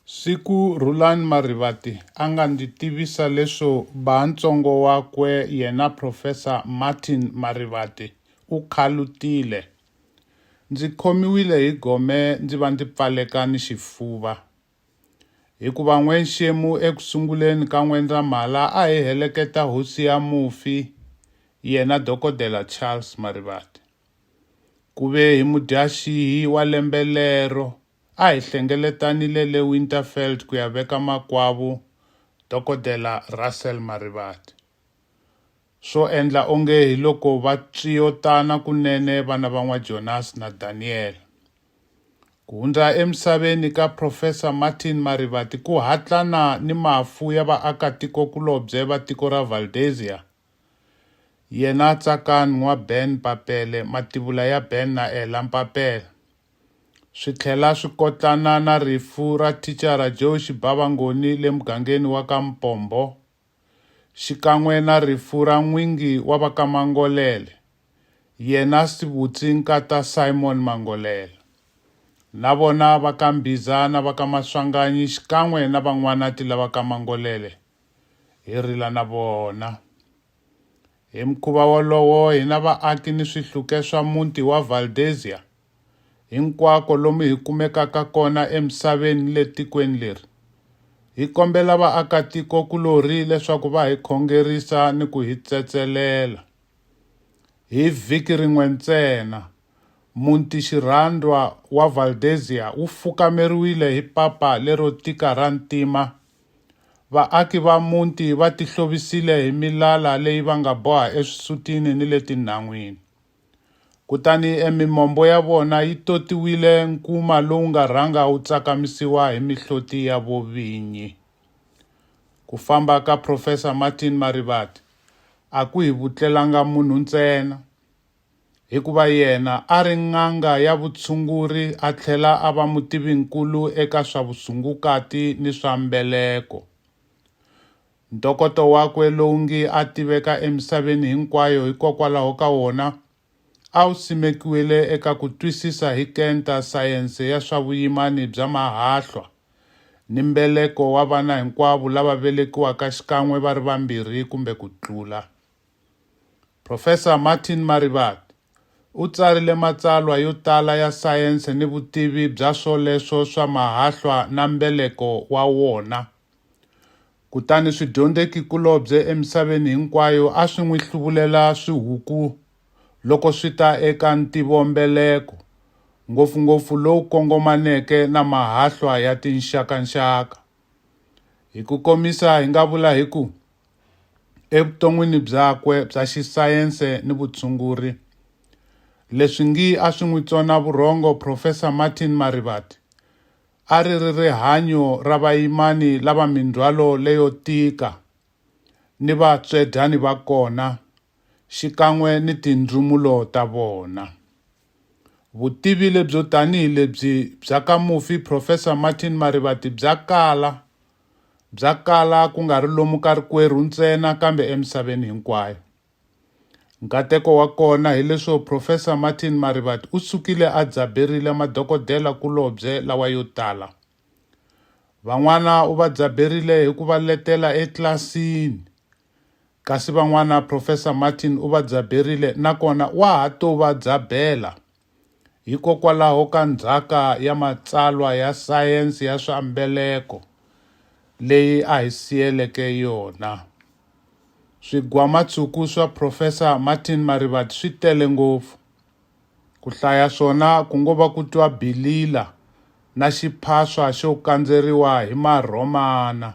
Siku Rhulani Marivate a nga ndzi tivisa leswo ba ntsongo wakwe yena Professor Martin Marivate u khalutile, ndzi khomiwile hi gome ndzi va ndzi pfaleka ni xifuva. Hikuva N'wenxemu eku sunguleni ka N'wendzamhala a hi heleketa hosi ya mufi, yena Dokodela Charles Marivate. Ku ve hi Mudyaxihi wa lembe lero, a hi hlengeletanile le Winterveld ku ya veka makwavo Dokodela Russel Marivate. Swo endla onge hi loko va tswiyotana kunene vana va N'wa-Jonas na Daniel. Ku hundza emisaveni ka Professor Martin Marivate ku hatlana ni mafu ya vaakatiko-kulobye va tiko ra Valdezia Yena Tsakani n'wa Ben Papele, mativula ya Ben na Ella Mpapela, swi tlhela swi kotlana na rifu ra thicara Joe Xibava Ngoni le mugangeni wa ka Mpombo, xikan'we na rifu ra n'wingi wa va ka Mangolele, yena Sibutsi Nkata Simon Mangolele, na vona va ka Mbhiza na va ka Maswanganyi xikan'we na van'wanati lava ka Mangolele. hi rila na vona. Hi mukhuva wolowo, hina vaaki ni swihluke swa muti wa Valdezia, hinkwako lomu hi kumekaka kona emisaveni ni le tikweni leri, hi kombela vaakatiko-kulorhi leswaku va hi khongerisa ni ku hi tsetselela. Hi vhiki rin'we ntsena, muti xirhandwa wa Valdezia wu fukameriwile hi papa lero tika ra ntima, Vaaki va muti va tihlovisile hi milala leyi va nga boha eswisutini ni le tinhan'wini. Kutani emimombo ya vona yi totiwile nkuma lowu nga rhanga wu tsakamisiwa hi mihloti ya vovinyi. Ku famba ka Profesa Martin Marivate a ku hi vutlelanga munhu ntsena, Hikuva yena a ri n'anga ya vutshunguri a tlhela a va mutivi-nkulu eka swa vusungukati ni swa mbeleko. Ntokoto wakwe lowu ngi a tiveka emisaveni hinkwayo hikokwalaho ka wona a wu simekiwile eka ku twisisa hi kenta sayense ya swa vuyimani bya mahahlwa ni mbeleko wa vana hinkwavo lava velekiwaka xikan'we va ri vambirhi kumbe ku tlula. Profesa Martin Marivat u tsarile matsalwa yo tala ya sayense ni vutivi bya swoleswo swa mahahlwa na mbeleko wa wona. Kutani swidyondzekikulobye emisaveni hinkwayo a swi n'wi hluvulela swihuku loko swi ta eka ntivombeleko, ngopfungopfu lowu kongomaneke na mahahlwa ya tinxakanxaka. Hi ku komisa hi nga vula hi ku, Evuton'wini byakwe bya xisayense ni vutshunguri, leswi ngi a swi n'wi tsona vurhongo Profesa Martin Marivate, a ri ri rihanyo ra vayimani lava mindzhwalo leyo tika ni vatswedyani va kona, xikan'we ni tindzumulo ta vona. Vutivi lebyo tanihi lebyi bya ka mufi Professor Martin Marivate bya kala, bya kala ku nga ri lomu ka rikwerhu ntsena kambe emisaveni hinkwayo. Nkateko wa kona hileswo Professor Martin Marivate u sukile a dzaberile madokodela kulobye lawa yo tala. Van'wana u va dzaberile hi ku va letela etlilasini. Kasi van'wana Professor Martin u va byaberile na kona wa ha to va byabela. Hikokwalaho ka ndzhaka ya matsalwa ya sayense ya swa mbeleko leyi a hi siyeleke yona. Swigwamatshuku swa Professor Martin Marivate swi tele ngopfu. Ku hlaya swona ku ngo va ku twa bilila na xiphaswa xo kandzeriwa hi Marhomana.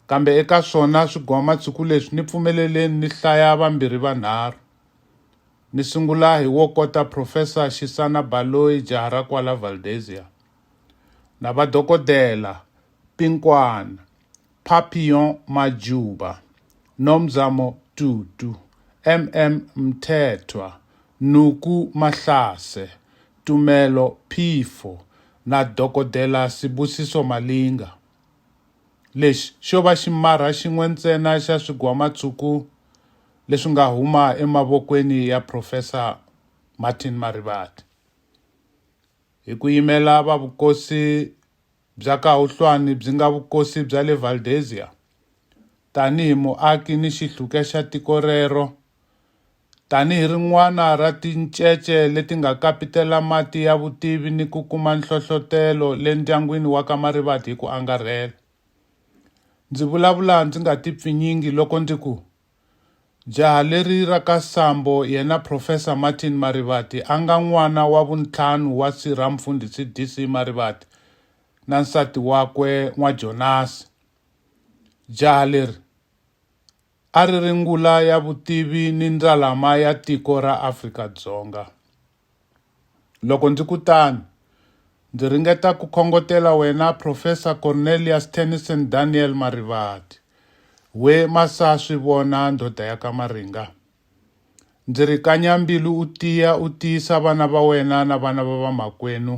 Kambe eka swona swigwamatshuku leswi ni pfumeleleni ni hlaya vambirhi vanharhu. Ni sungula hi wo kota Profesa Xisana Baloyi jaha ra kwala Valdezia, na vadokodela Pinkwana, Papillon Majuba, Nomzamo Tutu, MM Mthethwa, Nuku Mahlase, Tumelo Phifo na Dokodela Sibusiso Malinga. Lexi xo va ximarha xin'we ntsena xa swigwamatshuku leswi nga huma emavokweni ya Profesa Martin Marivate. Hi ku yimela va vukosi bya Kahuhlwani byi nga vukosi bya le Valdezia, tanihi muaki ni xihluke xa tiko rero, Tanihi rin'wana ra tincece leti nga kapitela mati ya vutivi ni ku kuma nhlohlotelo le ndyangwini wa ka Marivate hi ku angarhela, ndzi vulavula ndzi nga tipfinyingi loko ndzi ku, Jaha leri ra ka Sambo yena Professor Martin Marivate a nga n'wana wa vuntlhanu wa si ra Mfundhisi DC. Marivate na nsati wakwe N'wa-Jonasi. Jaha leri. A ri ri ngula ya vutivi ni ndzalama ya tiko ra Afrika-Dzonga. Loko ndzi ku tano, ndzi ringeta ku khongotela wena Profesa Cornelius Tennison Daniel Marivate, we Masa-Swivona ndhodha ya ka Maringa. Ndzi ri kanya mbilu u tiya u tiyisa vana va wena na vana va vamakwenu,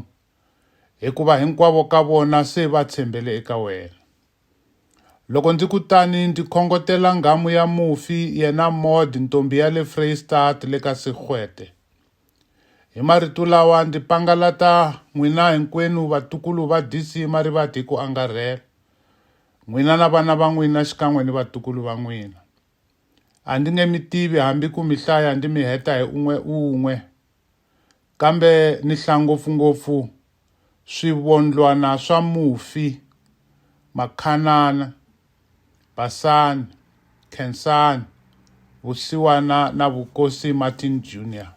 hikuva hinkwavo ka vona se va tshembele eka wena. Loko ndzi ku tani ndzi khongotela nghamu ya mufi yena Maud ntombi ya le Vrystaat le ka Sigwete. Hi marito lawa ndzi pangalata n'wina hinkwenu vatukulu va DC Marivate hi ku angarhela, n'wina na vana va n'wina xikan'we ni vatukulu va n'wina. A ndzi nge mi tivi hambi ku mi hlaya ndzi mi heta hi un'we-un'we. kambe ni hlaya ngopfungopfu swivondlwana swa mufi, makhanana, basani, khensani, vusiwana na vukosi Martin Junior.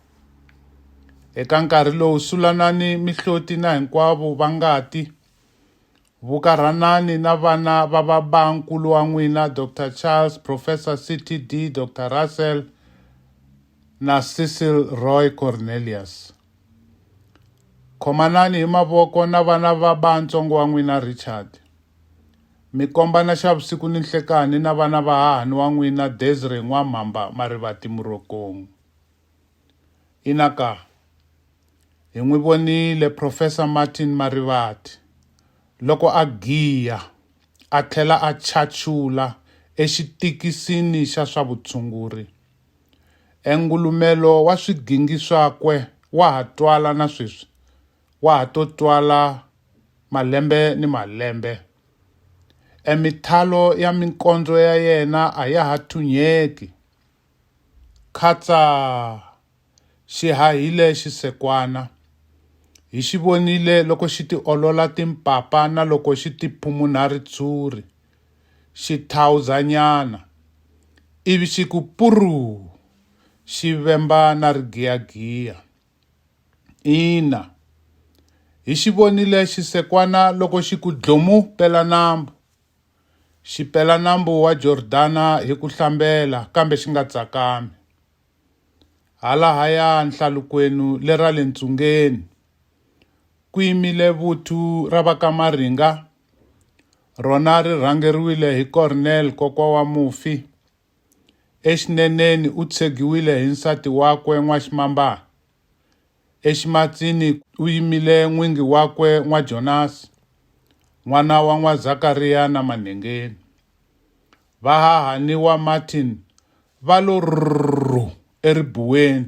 Eka nkarhi lowu Sulanani, Mihloti na hinkwavo va ngati Vukarhanani na vana va baba-nkulu wa n'wina, Doctor Charles, Professor CTD. Doctor Russell, na Cecil Roy Cornelius. Khomanani hi mavoko na vana va baa-ntsongo wa n'wina, Richard. Mi kombana xa vusiku ni nhlekani na vana va hahani wa n'wina, Desiree N'wamhamba Marivati Murokong. Ina ka. Hi n'wi vonile Profesa Martin Marivate loko a giya a tlhela a chachula exitikisini xa swa vutshunguri. Engulumelo wa swigingi swakwe wa ha twala na sweswi, wa ha to twala malembe ni malembe. Emithalo ya minkondzo ya yena a ya ha thunyeki. Khatsa! Xi hahile xisekwana. Hi xi vonile loko xi tiolola timpapa na loko xi tiphumunha ritshuri. Xi thawuzanyana, ivi xi ku puruu! Xi vemba na rigiyagiya. Ina, hi xi vonile xisekwana loko xi ku dlomu pelanambu. xi pela nambu wa Jordana hi ku hlambela kambe xi nga tsakami. Halahaya nhlalukwenu le ra le ntsungeni ku yimile vuthu ra va ka Maringa, rona ri rhangeriwile hi Cornel kokwa wa mufi. Exineneni u tshegiwile hi nsati wakwe N'waximambana. Eximatsini ku yimile n'wingi wakwe n'waJonasi, n'wana wa n'waZakariya na manhengeni. Vahahani wa Martin va lo rrhu eribuweni,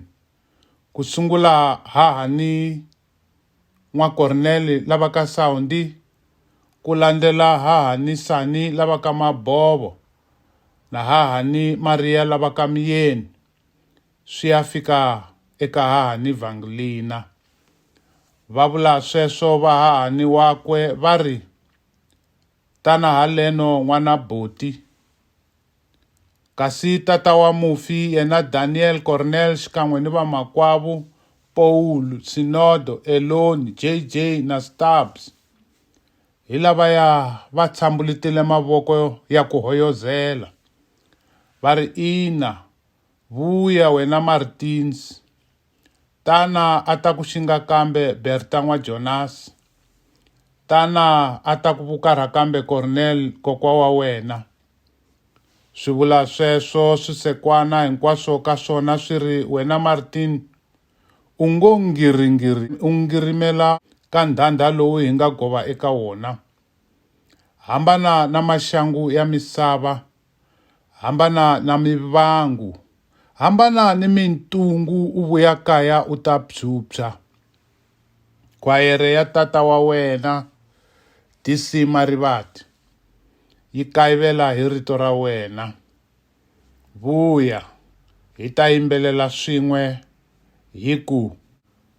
ku sungula hahani n'wa Kornele lava ka Sawundi, ku landzela hahani Sani lava ka Mabovo na hahani Mariya lava ka Miyeni. swi ya fika eka hahani Vanglina. Va vula sweswo vahahani wakwe va ri, Tana haleno n'wana buti. Kasi tata wa mufi yena Daniel Cornell xikan'we ni vamakwavo Paul, Sinodo, Elon, JJ na Stubbs hi lavaya va tshambulitile mavoko ya ku hoyozela va ri, Ina, Vuya wena Martins, tana a ta ku xinga kambe Berta n'wa Jonas, tana a ta ku vukarha kambe Cornel kokwa wa wena. Swivula sweswo swisekwana hinkwaswo ka swona swi ri, Wena Martin, u ngo ngiringiri u ngirimela ka ndhandha lowu hi nga gova eka wona. Hambana na maxangu ya misava Hambana na mivangu, hambana ni mintungu u vuya kaya u ta phyuphya. Khwayere ya tata wa wena, DC Marivate, yi kayivela hi rito ra wena. Vuya, hi ta yimbelela swin'we hi ku.